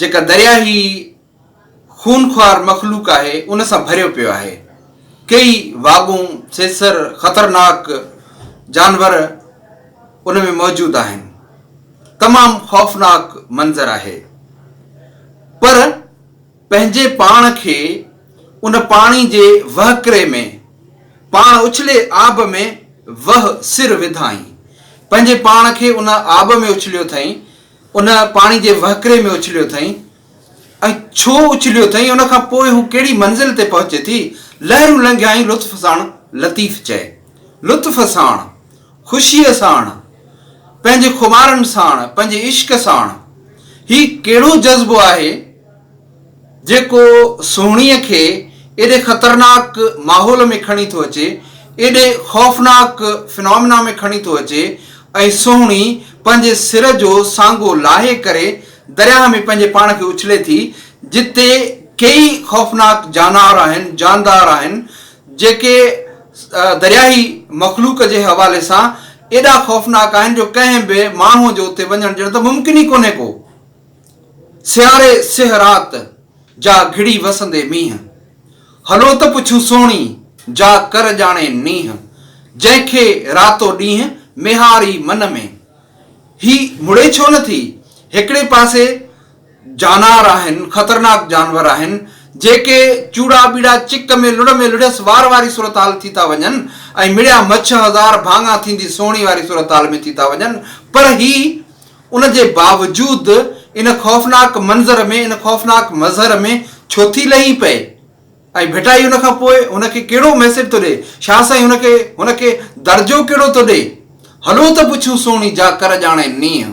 جيڪا درياء هي خونخوار مخلوق آهي ان سان ڀريو پيو آهي ڪيئي واڳون سيسر خطرناڪ جانور ان ۾ موجود آهن تمام خوفناڪ منظر آهي پر پنهنجي پاڻ کي ان پاڻي جي وهڪري ۾ پاڻ اڇلي آب ۾ وهه سر وڌائين پنهنجي پاڻ کي ان آب ۾ اڇليو ٿئين ان پاڻي جي وهڪري ۾ اڇليو اٿئي ۽ ڇو اڇليو اٿئي، ان کان پوء هو ڪهڙي منزل تي پهچي ٿي، لهرون لنگهيائين لطف ساڻ لطيف چئي. لطف ساڻ، خوشيء ساڻ، پنهنجي خمارن ساڻ، پنهنجي عشق ساڻ. هي ڪهڙو جذبو آهي؟ جيڪو سهڻيء کي ايڏي خطرناڪ ماحول ۾ کڻي ٿو اچي، ايڏي خوفناڪ فنامنا ۾ کڻي ٿو اچي ۽ سهڻي پنهنجي سر جو سانگو لاهي ڪري درياهه ۾ پنهنجي پاڻ کي اڇلي ٿي، جتي ڪيئي خوفناڪ جانار آهن، جاندار آهن، جيڪي درياهي مخلوق جي حوالي سان ايڏا خوفناڪ آهن جو ڪنهن به ماڻهوء جو اتي وڃڻ ڄڻ ته ممڪن ئي ڪونهي ڪو. سياري سيهه رات جا گهڙي وسندي مينهن. هلو ته پڇون سهڻي جا ڪر ڄاڻي نينهن. جنهن کي راتو ڏينهن ميهاري من ۾. هي مڙي ڇو نه ٿي؟ هڪڙي پاسي جانار آهن، خطرناڪ جانور آهن، جيڪي چوڙا ٻيڙا چڪ ۾ لڙهه ۾ لڙهيس وار واري صورتحال ٿي ٿا وڃن ۽ مڙيا مڇ هزار ڀاڱا ٿيندي سهڻي واري صورتحال ۾ ٿي ٿا وڃن پر هي ان جي باوجود ان خوفناڪ منظر ۾ ان خوفناڪ مظهر ۾ ڇو ٿي لهي پئي ۽ ڀٽائي ان کان پوء هن کي ڪهڙو ميسيج ٿو ڏئي؟ شاهه سائين هن کي هن کي درجو ڪهڙو ٿو ڏئي؟ هلو ته پڇون سهڻي جا ڪر ڄاڻي نينهن.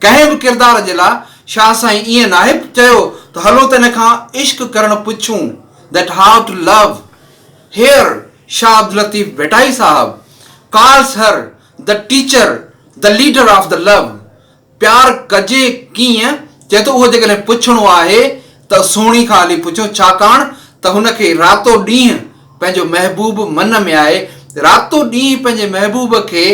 ڪنهن به ڪردار جي لاء شاهه سائين ائين ناهي چيو ته هلو ته ان کان عشق ڪرڻ پڇون That how to love Here Shah Abdul Latif Bhittai صاحب Calls her The Teacher، The Leader of the Love، پيار ڪجي ڪيئن؟ چئي ٿو اهو جيڪڏهن پڇڻو آهي ته سهڻي کان هلي پڇو ڇاڪاڻ ته هن کي راتو ڏينهن پنهنجو محبوب من ۾ آهي راتو ڏينهن پنهنجي محبوب کي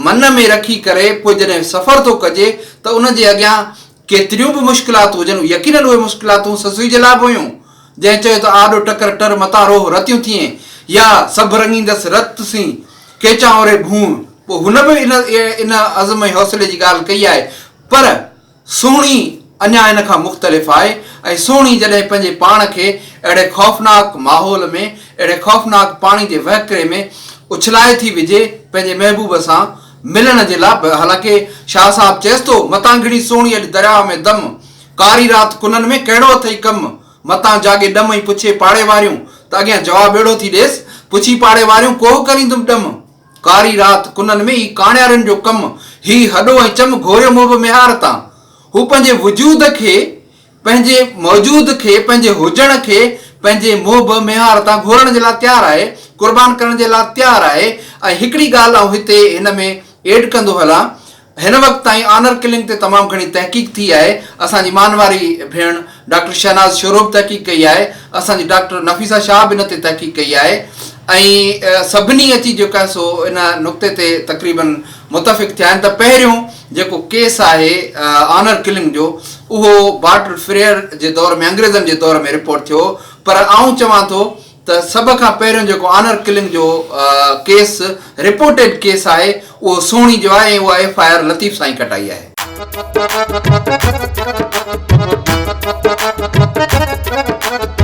من ۾ رکي ڪري پوء جڏهن سفر ٿو ڪجي ته ان جي اڳيان ڪيتريون به مشڪلات هجن، يقينن اهي مشڪلاتون سسئي جي لاء به هيون، جنهن چيو ته آڏو ٽڪر ٽر متان روهه رتيون ٿيين، يا سڀ رڱيندس رت سين، ڪيچان اوري ڀونء، پوء هن به ان عزم ۽ حوصلي جي ڳالهه ڪئي آهي، پر سهڻي اڃا ان کان مختلف آهي ۽ سهڻي جڏهن پنهنجي پاڻ کي اهڙي خوفناڪ ماحول ۾، اهڙي خوفناڪ پاڻي جي وهڪري ۾ اڇلائي ٿي وجهي، پنهنجي محبوب سان، ملڻ جي لاء به حالانڪه شاهه صاحب چيس ٿو متان گهڙي سوڻي اڄ درياهه ۾ دم ڪاري رات ڪنن ۾ ڪهڙو اٿئي ڪم متان جاڳي ڏم ۽ پڇي پاڙي واريون ته اڳيان جواب اهڙو ٿي ڏيس پڇي پاڙي واريون ڪوهه ڪريندم ڏم ڪاري رات ڪنن ۾ هي ڪاڻيارن جو ڪم هي هڏو ۽ چم گهوريو مهب ميهار تان هو پنهنجي وجود کي پنهنجي موجود کي، پنهنجي هجڻ کي، پنهنجي محب ميهار تان گهورڻ جي لاء تيار آهي، قربان ڪرڻ جي لاء تيار آهي ۽ هڪڙي ڳالهه آئون هتي هن ۾ ايڊ ڪندو هلان، هن وقت تائين آنر ڪلنگ تي تمام گهڻي تحقيق ٿي آهي، اسان جي مان واري ڀيڻ ڊاڪٽر شهناز شورو به تحقيق ڪئي آهي، اسان جي ڊاڪٽر نفيسه شاهه به ان تي تحقيق ڪئي آهي ۽ سڀني اچي جيڪو آهي سو ان نقطي تي تقريبن متفق ٿيا آهن ته پهريون جيڪو ڪيس آهي آنر ڪلنگ جو اهو بارٽر فريئر جي دور ۾ انگريزن جي دور ۾ رپورٽ ٿيو پر آئون چوان ٿو ته سڀ کان پهريون جيڪو آنر ڪلنگ جو ڪيس رپورٽيڊ ڪيس آهي اهو سهڻي جو آهي ۽ اها ايف آء آر لطيف سائين ڪٽائي آهي.